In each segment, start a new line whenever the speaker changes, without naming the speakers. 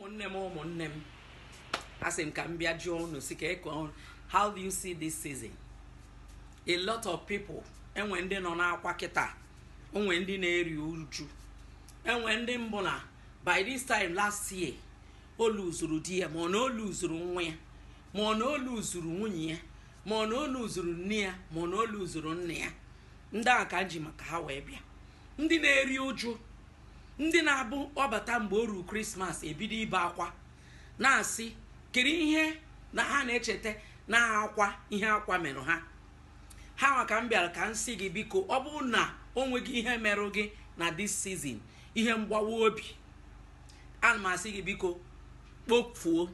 ụmụnne m ụmụnne m asị m ka m bịa jụọ unu sị ka eke ọnụ how do you see this season a lot of people e nwee ndị nọ n'akwa kịta o nwee ndị na-eri uju e nwee ndị bụ na by this time last year o luzuru di ya ma ọ na o luzuru nwa ya ma ọ na o luzuru nwunye ya ma ọ na o luzuru nne ya ma ọ na o luzuru nna ya ndị a ka m ji maka ha wee bịa ndị na-eri uju ndị na-abụ ọ bata mgbe o ruru krismas ebido ibe akwa na-asị kiri ihe na ha na-echeta na akwa ihe akwa merụ ha ha nwa ka m bịara ka m sị gị biko ọ bụrụ na o nweghị ihe merụ gị na dis sizin ihe mgbawa obi ana m asị gị biko kpofuo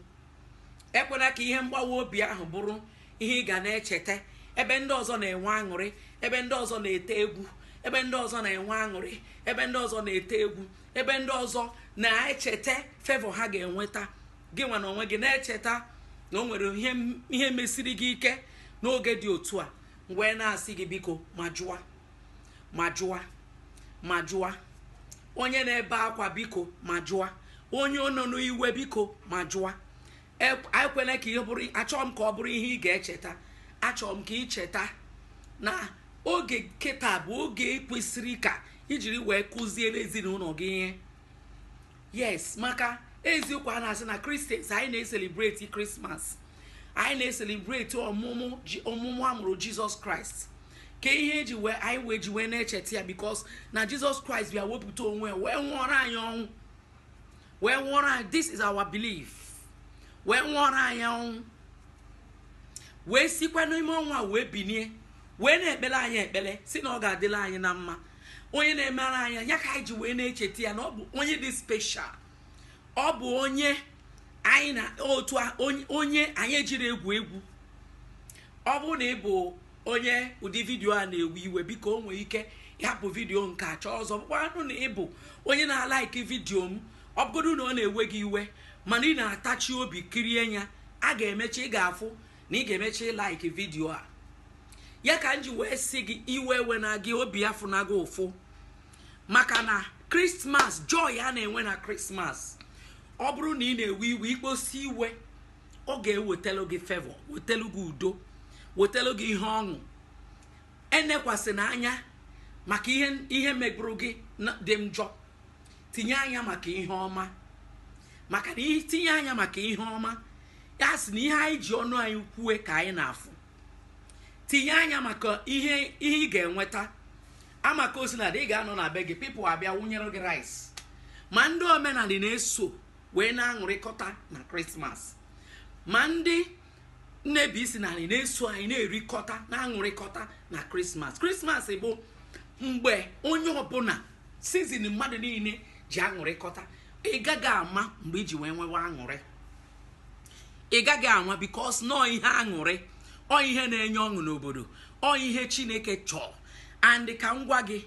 ekwena ka ihe mgbawa obi ahụ bụrụ ihe ị ga na-echeta ebe ndị ọzọ na-enwe aṅụrị ebe ndị ọzọ na-ete egwu ebe ndị ọzọ na-enwe aṅụrị ebe ndị ọzọ na-ete egwu ebe ndị ọzọ na-echeta fevọ ha ga-enweta gị nwa na onwe gị na-echeta na o nwere ihe mesiri gị ike n'oge dị otu a m wee na-asị gị biko ma jụwa ma jụa ma jụa onye na-ebe akwa biko ma jụa onye nọ n'iwe biko ma jụa ekwena ka ihe bụrụ achọghị m ka ọ bụrụ ihe ị ga-echeta achọrọ m ka ị cheta na oge kịta bụ oge kwesịrị ka i jiri wee kụziere ezinụlọ gị ihe yes maka eziokwu a na-asị na kristians anyị na-eselebreti krismas anyị na-eselebreti ọmụmụ ji- ọmụmụ a mụrụ jizọs kraịst ka ihe e ji wee anyị wee ji wee na-echeta ya bikos na jizọs kraịst bịa wepụta onwe ya wee nwụọrọ anyị ọnwụ wee nwụọrọ anyị this is our belief wee nwụọrọ anyị ọnwụ wee sikwa n'ime ọnwụ a wee binie wee na-ekpele anyị ekpele sị na ọ ga-adịla anyị na mma onye na-emere anyị ya ka anyị ji wee na-echeta ya na ọ bụ onye dị special ọ bụ onye anyị na-eto onye anyị ejiri egwu egwu ọ bụrụ na ị bụ onye ụdị vidiyo a na-ewe iwe biko o nwee ike ịhapụ vidiyo nke a chọọ ọzọ bụkwanụ na ị bụ onye na-alaiki vidiyo m ọ bụgodu na ọ na-ewe gị iwe mana ị na-atachi obi kirie ya a ga-emecha ị ga-afụ na ị ga-emecha ịlaiki vidiyo a ya ka m ji wee sị gị iwe ewena gị obi afụna gị ụfụ maka na krismas joy a na-enwe na krismas ọ bụrụ na ị na-ewe iwe i kposi iwe ọ ga-ewetelu gị fevọ wetelu gị udo wetelu gị ihe ọṅụ enekwasịna anya maka ihe megburu gị dị njọ tinye anya maka ihe ọma maka na itinye anya maka ihe ọma ya sị na ihe anyị ji ọnụ anyị kwue ka anyị na-afụ tinye anya maka ihe ihe ị ga-enweta amaka osinadị ị ga-anọ na be gị people abịa wụnyere gị rice ma ndị omenala na-eso wee na-aṅụrịkọta na krismas ma ndị na-ebi isi n'anị na-eso anyị na-erikọta na-aṅụrịkọta na krismas krismas bụ mgbe onye ọbụla season mmadụ niile ji aṅụrịkọta ị gaghị ama mgbe i ji wee nwewe aṅụrị ị gaghị ama because na ọ ihe aṅụrị ọ ihe na-enye ọṅụ n'obodo ọ ihe chineke chọọ and ka m gwa gị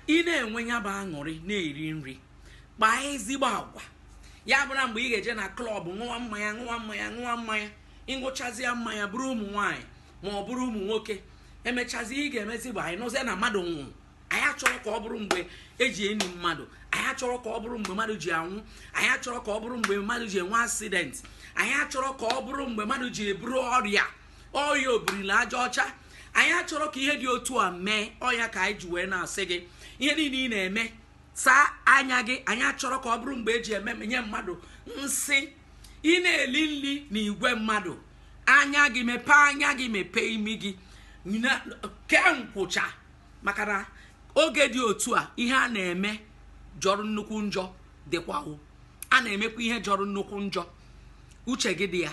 ị na-enwe ya bụ aṅụrị na-eri nri kpaa ezigbo agwa ya abụla mgbe ị ga-eje na club ṅụwa mmanya ṅụwa mmanya ṅụwa mmanya ị ṅụchazia mmanya buru ụmụ nwaanyị ma ọ bụrụ ụmụ nwoke emechazi ihe ga-emezi bụ anyị nụzie na mmadụ nwụrụ anyị achọrọ ka ọ bụrụ mgbe e ji eni mmadụ anyị achọrọ ka ọ bụrụ mgbe mmadụ ji anwụ anyị achọrọ ka ọ bụrụ mgbe mmadụ ji enwe accident anyị achọrọ ka ọ bụrụ mgbe mmadụ ji eburu ọrịa ọrịa obiri n'aja ọcha anyị achọrọ ka ihe dị otu a mee ọ ya ka anyị ji wee na-asị gị ihe niile ị na-eme saa anya gị anyị achọrọ ka ọ bụrụ mgbe e ji emenye mmadụ nsi ị na-eli nri na igwe mmadụ anya gị mepee anya gị mepee imi gị kee nkwụcha maka na oge dị otu a ihe a na-eme jọrọ nnukwu njọ dịkwa o a na-emekwa ihe jọrọ nnukwu njọ uche gị dị ya